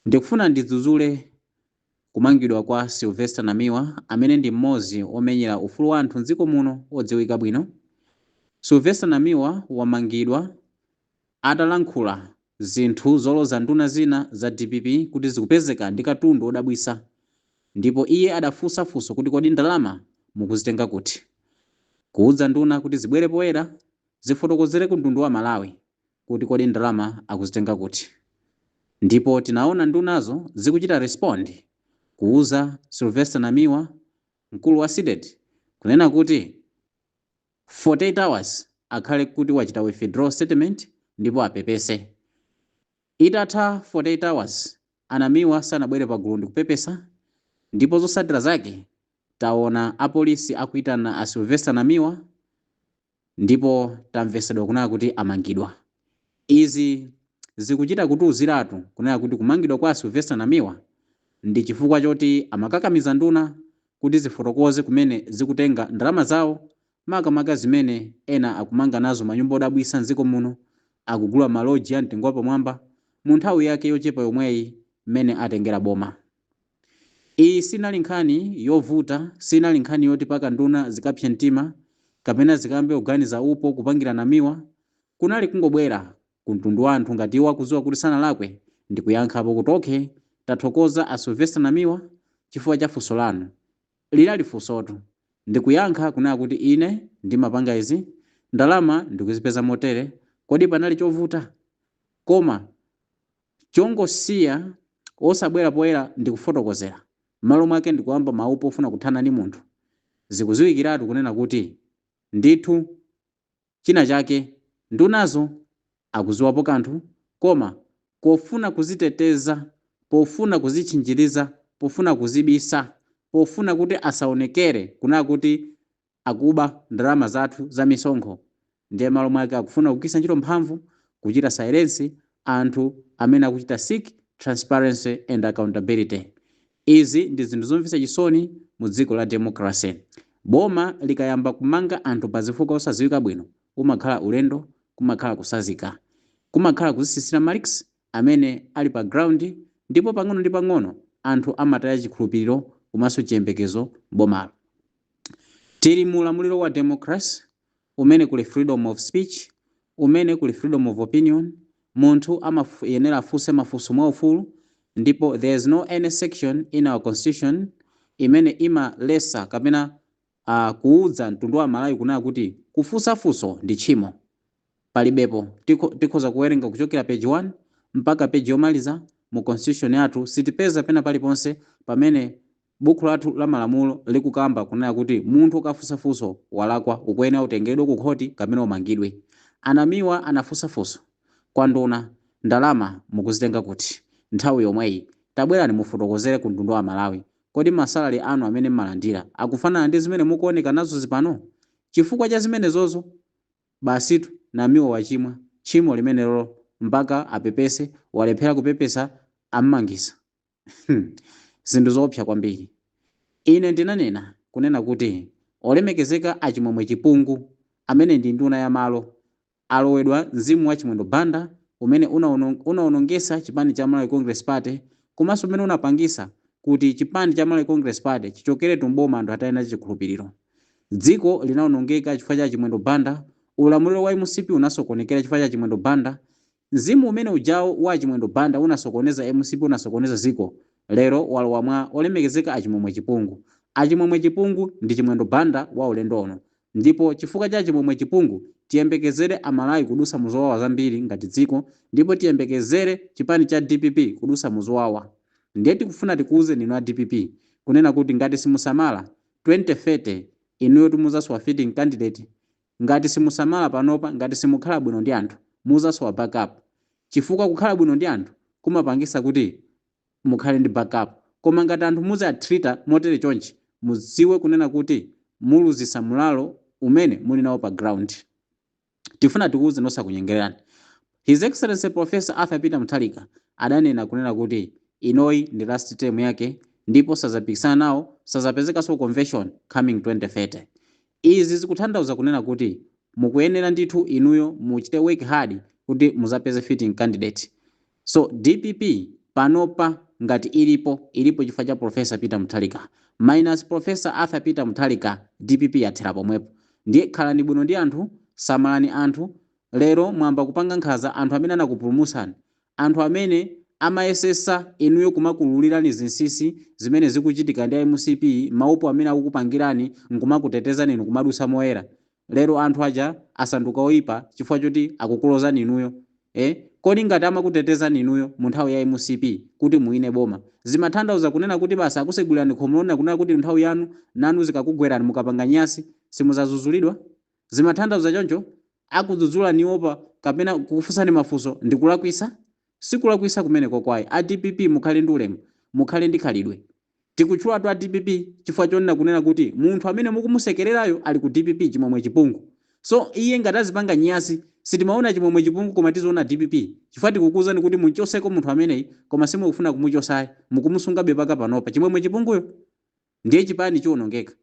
Ndikufuna ndidzudzule kumangidwa kwa Sylvester Namiwa amene ndi m'modzi omenyera ufulu wa anthu m'dziko muno odziwika bwino. Sylvester Namiwa wamangidwa atalankhula zinthu zoloza nduna zina za DPP kuti zikupezeka ndi katundu odabwitsa ndipo iye adafunsa funso kuti kodi ndalama mukuzitenga kuti? Kuudza nduna kuti zibwere poyera zifotokozere ku mtundu wa Amalawi kuti kodi ndalama akuzitenga kuti ndipo tinaona ndunazo zikuchita respond kuuza Sylvester Namiwa mkulu wa CDEDI kunena kuti 48 hours akhale kuti wachita withdraw statement ndipo apepese. Itatha 48 hours a Namiwa sanabwere pagulu ndikupepesa ndipo zotsatira zake taona apolisi akuitana a Sylvester Namiwa, ndipo tamvesedwa kunena kuti amangidwa. Izi zikuchita kutiuziratu kunena kuti kumangidwa kwa a Sylvester Namiwa ndi chifukwa choti amakakamiza nduna kuti zifotokoze kumene zikutenga ndalama zawo makamaka zimene ena akumanga nazo manyumba odabwisa m'dziko muno, akugula maloji a mtengo wapamwamba mu nthawi yake yochepa yomweyi m'mene atengera boma. Iyi sinali nkhani yovuta, sinali nkhani yoti paka nduna zikapse mtima, kapena zikayambe kuganiza upo, kupangira namiwa, kunali kungobwera Ku mtundu wa anthu ngati iwo akudziwa kuti sanalakwe ndikuyankhapo kuti okay tathokoza a Sylvester Namiwa chifukwa cha funso lanu. Linali funsotu, ndi kuyankha kunena kuti ine ndimapanga izi, ndalama ndikuzipeza motere, kodi panali chovuta? Koma. Chongosiya osabwera poyera ndikufotokozera, mmalo mwake ndikuyamba maupo ofuna kuthana ndi munthu, zikuziwikiratu kunena kuti ndithu china chake ndunazo akuziwapo kanthu koma pofuna kuziteteza, pofuna kuzitchinjiriza, pofuna kuzibisa, pofuna kuti asaonekere kunena kuti Akuba ndalama zathu za misonkho ndiye malo mwake akufuna kugwiritsa ntchito mphamvu kuchita silence anthu amene akuchita seek transparency and accountability. Izi ndi zinthu zomvetsa chisoni mu dziko la democracy. Boma likayamba kumanga anthu pa zifukwa osadziwika bwino umakhala ulendo, kumakhala kutsanzika. Kumakhala kuzitsitsira marks. amene ali pa ground ndipo pang'ono ndi pang'ono anthu amataya chikhulupiliro komanso chiyembekezo m'bomalo. Tili mu ulamuliro wa democracy umene kuli freedom of speech, umene kuli freedom of opinion, munthu amayenera afunse mafunso mwa ufulu ndipo there is no any section in our constitution imene imaletsa kapena a Kuudza mtundu wa Amalawi kunena kuti kufunsa funso ndi tchimo palibepo. Tikho tikhoza kuwerenga kuchokera page 1 mpaka page yomaliza mu constitution yathu sitipeza pena paliponse pamene Bukhu lathu la malamulo likukamba kunena kuti munthu ukafunsa funso walakwa ukuyenera utengeredwe ku khothi kapena umangidwe. A Namiwa anafunsa funso kwa nduna ndalama mukuzitenga kuti nthawi yomweyi? Tabwerani mufotokozere ku mtundu wa Amalawi Kodi ma salary anu amene mmalandira akufanana ndi zimene mukuoneka nazozi pano? Chifukwa cha zimenezozo? Basitu Namiwa wachimwa tchimo limenelo mpaka apepese walephera kupepesa ammangisa. Hmm. Zinthu zoopsa kwambiri. Ine ndinanena kunena kuti Olemekezeka a Chimwemwe Chipungu amene ndi nduna ya malo Alowedwa mzimu wa Chimwendo Banda umene unaonong, unaonongesa chipani cha Malawi Congress Party komaso umene unapangisa kuti chipani cha Malawi Congress Party chichokeretu m'boma anthu ataya nacho chikhulupiliro. Dziko linaonongeka chifukwa cha Chimwendo Banda, ulamuliro wa mcp unasokonekera chifukwa cha Chimwendo Banda, mzimu umene ujawu wa Chimwendo Banda unasokoneza mcp unasokoneza dziko lero walowa mwa olemekezeka a Chimwemwe Chipungu. A Chimwemwe Chipungu ndi Chimwendo Banda wa ulendo uno. Ndipo chifukwa cha Chimwemwe Chipungu, tiyembekezere a Malawi kudusa mu zowawa zambiri ngati dziko ndipo tiyembekezere chipani cha dpp kudusa mu zowawa. Ndiye tikufuna tikuuzeni inu a dpp kunena kuti ngati simusamala, 2030 inuyotu muzasowa fitting candidate, ngati simusamala panopa, ngati simukhala bwino ndi anthu, muzasowa backup chifukwa kukhala bwino ndi anthu kumapangisa kuti. mukhale ndi back up koma ngati anthu muzi a treater motere chonchi mudziwe kunena kuti muluzisa mulalo umene muli nawo pa ground tifuna tikuwuzeni osakunyengelerani His Excellency Prof Arthur Peter Mutharika adanena kunena kuti ino iyi ndi last term yake ndipo sazapikisana nawo sazapezekaso ku convention coming 2030 izi zikuthandauza kunena kuti mukuyenera ndithu inuyo muchite work hard kuti muzapeze fitting candidate So dpp panopa ngati ilipo, ilipo chifukwa cha Prof Peter Mutharika. Minus Prof Arthur Peter Mutharika dpp yathera pomwepo. Ndiye khalani bwino ndi anthu, samalani anthu. Lero mwayamba kupanga nkhanza anthu amene anakupulumusani. Anthu amene amayesesa inuyo kumakuwululirani zinsisi zimene zikuchitika ndi mcp, maupo amene akukupangirani nkumakutetezani inu kumadutsa moyera. Lero anthu aja asanduka oipa chifukwa choti akukulozani inuyo ee? Kodi ngati amakutetezani inuyo mu nthawi ya mcp kuti muwine boma zimathandauza kunena kuti basi akusegulirani khomo lonena kunena kuti nthawi yanu nanu zikakugwerani mukapanga nyasi simuzazuzulidwa? Zimathandauza choncho? Kukudzudzulani apa kapena kukufunsani mafunso ndikulakwisa? Sikulakwisa kumeneko ayi. A dpp mukhale ndi ulemu, mukhale ndi khalidwe. Tikutchulatu a dpp chifukwa chonena kunena kuti munthu amene mukumusekelerayo ali ku dpp Chimwemwe Chipungu so iye ngati azipanga nyasi sitimaona Chimwemwe Chipungu koma tiziona dpp chifukwa tikukuuzani kuti munchoseko munthu ameneyi koma simukufuna kumuchosayi mukumusungabe paka panopa Chimwemwe Chipunguyo ndiye chipani chionongeka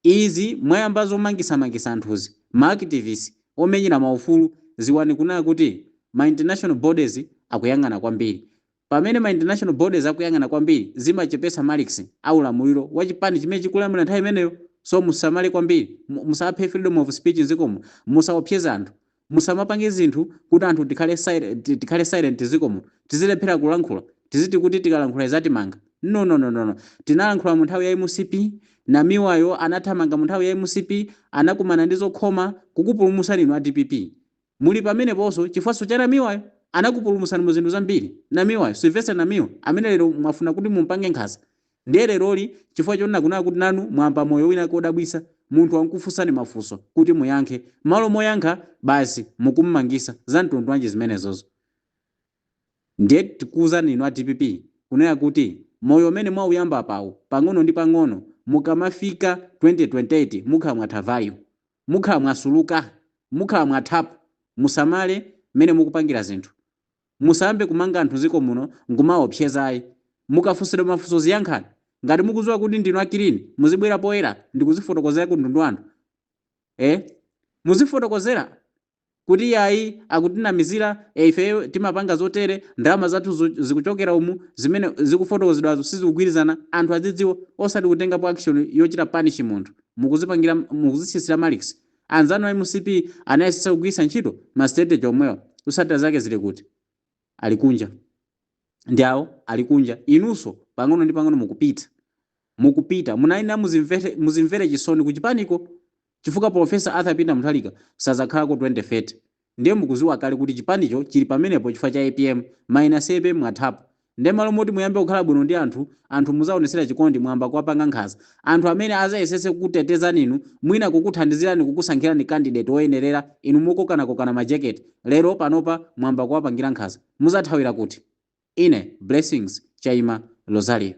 Izi mwayamba zomangisa mangisa anthuzi, ma activist, omenyera ma ufulu, ziwani kunena kuti ma international bodies akuyang'ana kwambiri. Pamene ma international bodies akuyang'ana kwambiri zimachepesa marks a ulamuliro wa chipani chimene chikulamulira nthawi imeneyo. So musamale kwambiri, musaphe freedom of speech nzikomo, musaopseza anthu. Musamapange zinthu kuti anthu tikhale silent zikomo, tizilephera kulankhula, tiziti kuti tikalankhula izatimanga. No no no no no. Tinalankhula mu nthawi ya mcp, Namiwayo anathamanga mu nthawi ya mcp, anakumana ndi zokhoma, kukupulumusani inu a dpp. Muli pameneponso chifukwanso cha Namiwayo. Anakupulumusani mu zinthu zambiri Namiwayo, Sylvester Namiwa, amene lero mwafuna kuti mumpange nkhanza. Ndiye leroli, chifukwa chonena kunena kuti nanu mwamba moyo wina wake wodabwitsa, munthu wankufunsani mafunso kuti muyankhe, malo moyankha basi mukummangisa, zamtundu wanji zimenezozo? Ndiye tikuuzani inu a dpp kunena kuti moyo umene mwauyamba apawu, pang'ono ndi pang'ono mukamafika 2028 mukhala mwatha value, mukhala mwasuluka, mukhala mwathapo, musamale mmene mukupangira zinthu. Musayambe kumanga anthu ziko muno nkumawaopseza ayi. Mukafunsidwa mafunso ziyankhani. Ngati mukuziwa kuti ndinu a kilini muzibwera poyera ndikuzifotokozera ku mtundu wanthu. Eh? Muzifotokozera kuti yayi akutinamizira eh ifeyo timapanga zotere, ndalama zathu zikuchokera umu, zimene zikufotokozedwazo sizikugwirizana, anthu adzidziwa osati kutengapo action yochita punish munthu. Mukuzipangira mukuzitsitsira marks. Anzanu a mcp anayesetsa kugwiritsa ntchito ma strategy omwewa. Zotsatira zake zili kuti? Ali kunja. Ndi awo ali kunja. Inunso pang'ono ndi pang'ono mukupita. Mukupita. Munayenera muzimvere chisoni kuchipaniko chifukwa Prof. Arthur Peter Mutharika sadzakhalako 2030. Ndiye mukuziwa kale kuti chipanicho chili pamenepo chifukwa cha apm, minus apm mwathapo. Ndiye malo moti muyambe kukhala bwino ndi anthu, anthu muzaonetsera chikondi mwamba kuwapanga nkhanza. Anthu amene azayesetse kukutetezani inu, mwina kukuthandizirani kukusankhirani candidate woyenerera, inu mukokanakokana majekete, lero panopa mwamba kuwapangira nkhanza. Muzathawira kuti? Ine Blessings Chaima Rosario.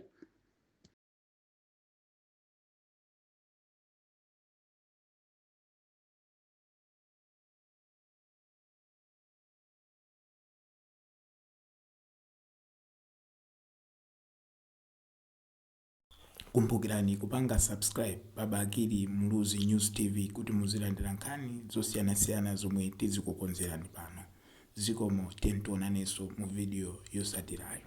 kumbukirani kupanga subscribe pa bakili muluzi news tv kuti muzilandira nkhani zosiyanasiyana zomwe tizikukonzerani pano zikomo tionanenso mu video yotsatirayo